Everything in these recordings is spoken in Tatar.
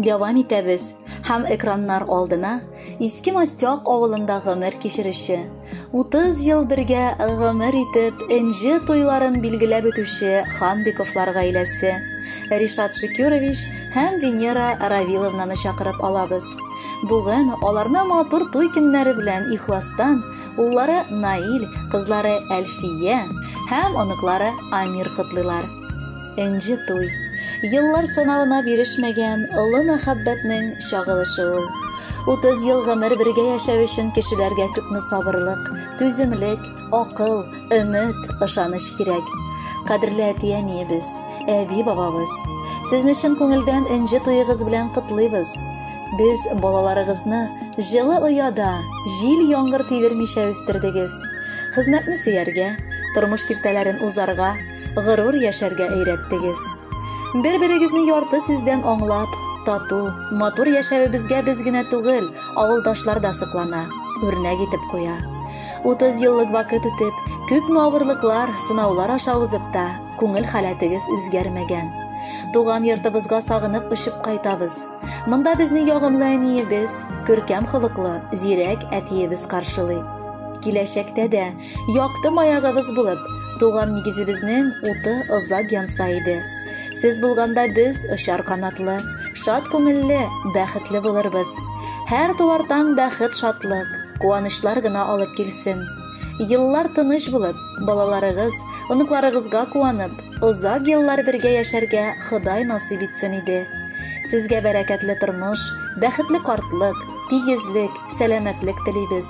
Дәвам итәбез һәм экраннар алдына Иске Мастяк авылында гомер кичерүче, 30 ел бергә гомер итеп, энҗе туйларын билгеләп үтүче Ханбиковлар гаиләсе, Ришат Шикюрович һәм Венера Равиловнаны чакырып алабыз. Бүген аларны матур туй көннәре белән ихластан уллары Наил, кызлары Әлфия һәм оныклары Амир котлыйлар. Энҗе туй. Еллар санавына бирешмәгән олы мәхәббәтнең чагылышы ул. 30 ел гомер бергә яшәү өчен кешеләргә күпме сабырлык, түземлек, акыл, өмет, ышаныч кирәк. Кадерле әти-әниебез, әби-бабабыз, сезне чын күңелдән энҗе туегыз белән котлыйбыз. Без балаларыгызны җылы ояда, җил яңгыр тидермичә үстердегез. Хезмәтне сөяргә, тормыш киртәләрен узарга, горур яшәргә өйрәттегез. Бер-берегезне ярты сүздән аңлап, тату, матур яшәвебезгә без генә түгел, авылдашлар да соклана, үрнәк итеп куя. 30 еллык вакыт үтеп, күпме авырлыклар, сынаулар аша узып та, күңел халәтегез үзгәрмәгән. Туган йортыбызга сагынып очып кайтабыз. Монда безне ягымлы әниебез, күркәм холыклы, зирәк әтиебез каршылый. Киләчәктә дә Якты маягыбыз булып, туган нигезебезнең уты озак янса иде. Сез булганда без очар канатлы, шат күңелле, бәхетле булырбыз. Һәр туар таң бәхет, шатлык, куанычлар гына алып килсен. Еллар тыныч булып, балаларыгыз, оныкларыгызга куанып, озак еллар бергә яшәргә Ходай насыйп итсен иде. Сезгә бәрәкәтле тормыш, бәхетле картлык, тигезлек, сәламәтлек телибез.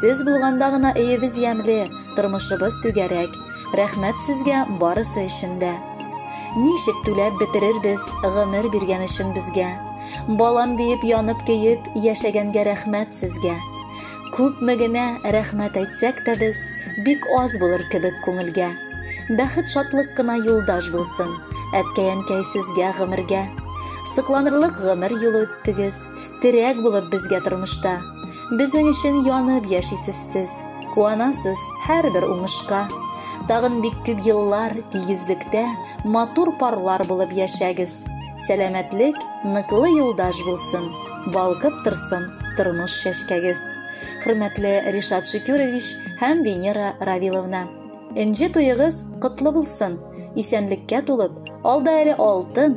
Сез булганда гына өебез ямьле, тормышыбыз түгәрәк. Рәхмәт сезгә барысы өчен дә. Ничек түләп бетерербез гомер биргән өчен безгә? Балам диеп янып көеп яшәгәнгә рәхмәт сезгә. Күпме генә рәхмәт әйтсәк тә без, бик аз булыр кебек күңелгә. Бәхет шатлык кына юлдаш булсын, әткәй-әнкәй сезгә гомергә. Сыкланырлык гомер юлы үттегез, Терәк булып безгә тормышта. Безнең өчен янып яшисез сез, Куанасыз һәрбер уңышка. Тагын бик күп еллар тигезлектә Матур парлар булып яшәгез. Сәламәтлек, ныклы юлдаш булсын, Балкып торсын тормыш чәчкәгез. Хөрмәтле Ришат Шөкүрович һәм Венера Равиловна! Энҗе туегыз котлы булсын! Исәнлеккә тулып, алда әле алтын,